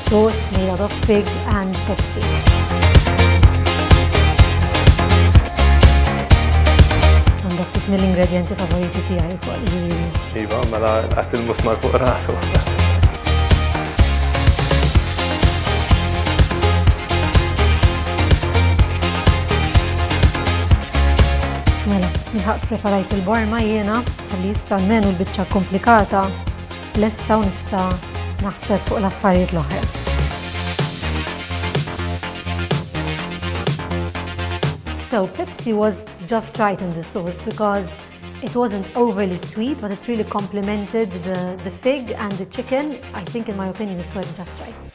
Sauce made out of pig and Pepsi. mill-ingredienti favoriti tiegħi wkoll. Iva, mela qatt il-musmar fuq rasu. Mela, nħaq preparajt il-borma jiena, għalli issa menu l-bicċa komplikata lesta u nista' naħseb fuq l-affarijiet l-oħra. So Pepsi was just right in the sauce because it wasn't overly sweet, but it really complemented the, the fig and the chicken. I think in my opinion it was just right.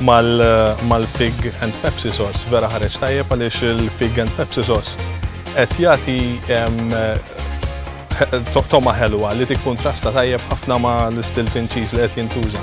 Mal-fig and Pepsi sauce vera ħareġ tajjeb għaliex il-fig and Pepsi sauce qed jagħti toma ħelwa li tikkuntrasta tajjeb ħafna ma' l-istilton cheese li qed jintuża.